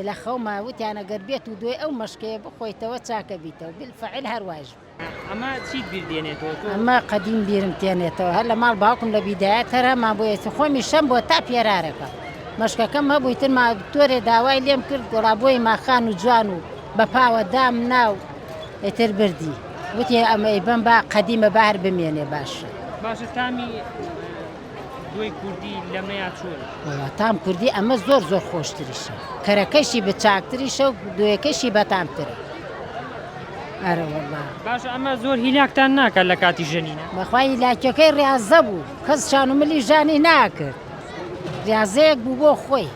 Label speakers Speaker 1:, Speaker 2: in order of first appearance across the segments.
Speaker 1: لە خەوما وتیان ئەگەر بێت و دوای ئەو مەشقەیە بخۆیتەوە چاک ئەبیتەوە، بیلفەعل هەر وایش بوو. ئەمە چیت
Speaker 2: بیر دێنێتەوە تۆ؟ ئەمە قەدیم
Speaker 1: بیرم تێنێتەوە هەر لە ماڵ باوکم لە بیدایەت هەر هەمان بوو ئێستی خۆمی شەم بۆ تا پێرارەکە مەشقەکەم هەبوو ئیتر ما دکتۆرێ داوای لێم کرد گۆڵا بۆی ما خان و جوان و بە پاوە دام نا و ئیتر بردی وتی ئەمە ئەیبەم با قەدیمە با هەر بمێنێ باشە. باشە تامی.
Speaker 2: دوی کوردی لەمەیا چۆن. وەڵا تام کوردی ئەمە
Speaker 1: زۆر زۆر خۆشتریشە کەرەکەشی بە چاکتریشە و دوێکەشی بەتامترە ئەرە وەڵا باش ئەمە زۆر
Speaker 2: هیلاکتان ناکات لە کاتی ژەنینە بەخوای هیلاکەکەی
Speaker 1: ڕازە بوو کەس شان و ملی ژانی ناکرد ڕازەیەک بوو بۆ خۆی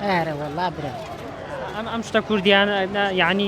Speaker 1: ئەرە وەڵا برا ئەم ئەم شتە
Speaker 2: کوردیان یعنی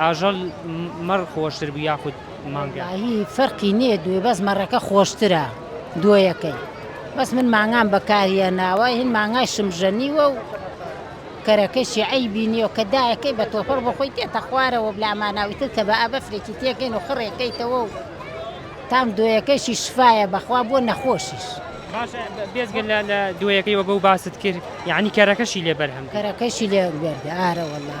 Speaker 2: ئاژەڵ مەڕ خۆشتر بوو یاخود مانگا؟ وەڵاهی فەرقی
Speaker 1: نیە دوێ بەس مەڕەکە خۆشترە دۆیەکەی بەس من مانگام بەکاری هێناوە هین مانگای شمژەنیوە و کەرەکەشی عەیبی نیە و کە دایەکەی بە تۆپەڕ بۆ خۆی تێتە خوارەوە و لامانا و ئیتر کە بائە بەفرێکی تێکەین و خڕێ کەیتەوە و تام دۆیەکەشی شفایە بەخوا بۆ نەخۆشیش. باشە
Speaker 2: بێجگە لە لە دۆیەکەی وەگە و باست کرد یانی کەرەکەشی لێ بەرهەم کرد؟ کەرەکەشی لێ بەرد
Speaker 1: ئارە وەڵا.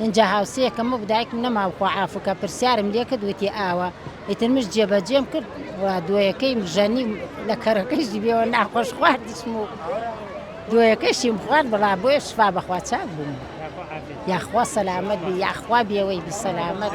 Speaker 1: ئینجا هاوسێکەم وەک دایکم نەماو خوا عافو کا پرسیارم لێ کرد وتی ئاوا ئیتر مشت جێ بەجێم کرد و دوەیەکەی مژەنیم لە کەرەکەشی بێوە ناخۆش خواردشم و دوەیەکەشیم خوارد بەڵا بۆیە شفا بەخوا چاک بووم یاخوا سەلامەت بی یاخوا بێوەی بی سەلامەت.